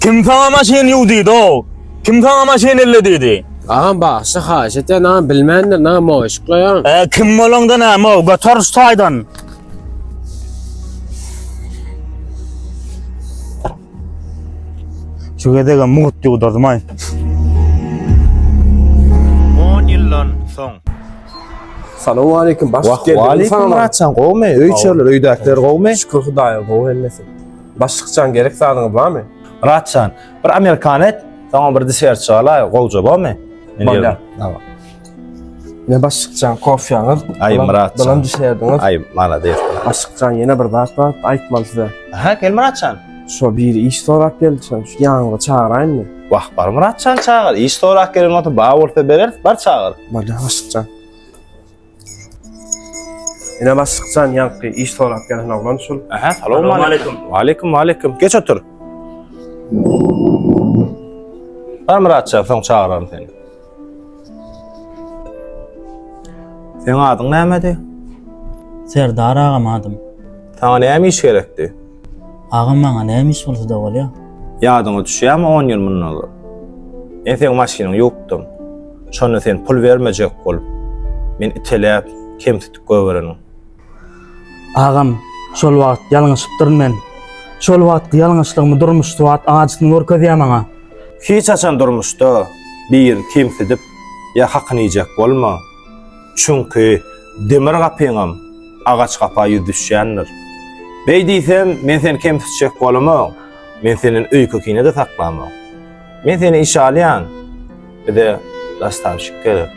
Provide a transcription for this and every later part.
Kim saňa maşyn ýuw diýdi-ow? Kim saňa maşyn elle diýdi? Agam bagşy haýyş etýän agam bilmändir näme o yşklaýan. E, kim bolaňda näme o? Göter şu taýdan. Şu gezegem mugt ýuwdurmaý. 10 ýyldan soň Salam aleyküm. Baş Wah, geldi. waleýkum Salam. Muratjan gowmy? Öý içerler, öýdäkiler gowmy? Şükür Hudaýa gowy hemmesi. Başykjan gerek zadyňyz barmy? Myratjan, bir amerikan et, soňam bir desert çygaly, gowja bormy? Bolýar. Tamam. Ne başykjan kofýaňyz? Aý Myratjan. Bilen desertiňiz. Aý malades. Başykjan ýene bir zat bar, aýtmaly size. Aha, gel Myratjan. Şo biri iş sorap geldi, şo ýanyňda çagyraýynmy? Wah, bar Myratjan çagyr. Iş sorap gelen bolsa, bar bolsa bereris, bar çagyr. Bolýar başykjan. Ine başlykjan ýaňky iş sorap gelen oglan şul. Aha, salowmaleýkim. Waleýkim, waleýkim. Geç otur. Bar Myratjan, soň çagyraryn seni. Seň adyň nämedi? Serdar agam adym. Saňa näme iş gerekdi? Agam maňa näme iş bolsada bolýa. Ýadyňa düşýämi on ýyl mundan ozal. Men seň maşynyňy ýuwupdym. Şonda sen pul bermejek bolup, meni iteläp, kemsitip gögereniň. Agam, şol wagt ýalňyşypdyryn men. Şol wagtky ýalňyşlygymy durmuş swat ajysyny görkezýä maňa. Hiç haçan durmuşda birini kemsidip ýa hakyny iýjek bolma. Çünki demir gapyňam agaç gapa ýüz düşýändir. Beý diýsem, men seni kemsitjek bolamok. Men senden öýke-kine-de saklamok. Men seni işe alýan. Bize nastavşik gerek.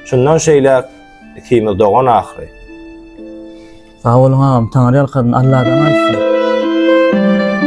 Şundan şeýläk ikimiz dogan ahyry. Sag boluň agam, Taňyrýalkadyn Alladan aýtsyn.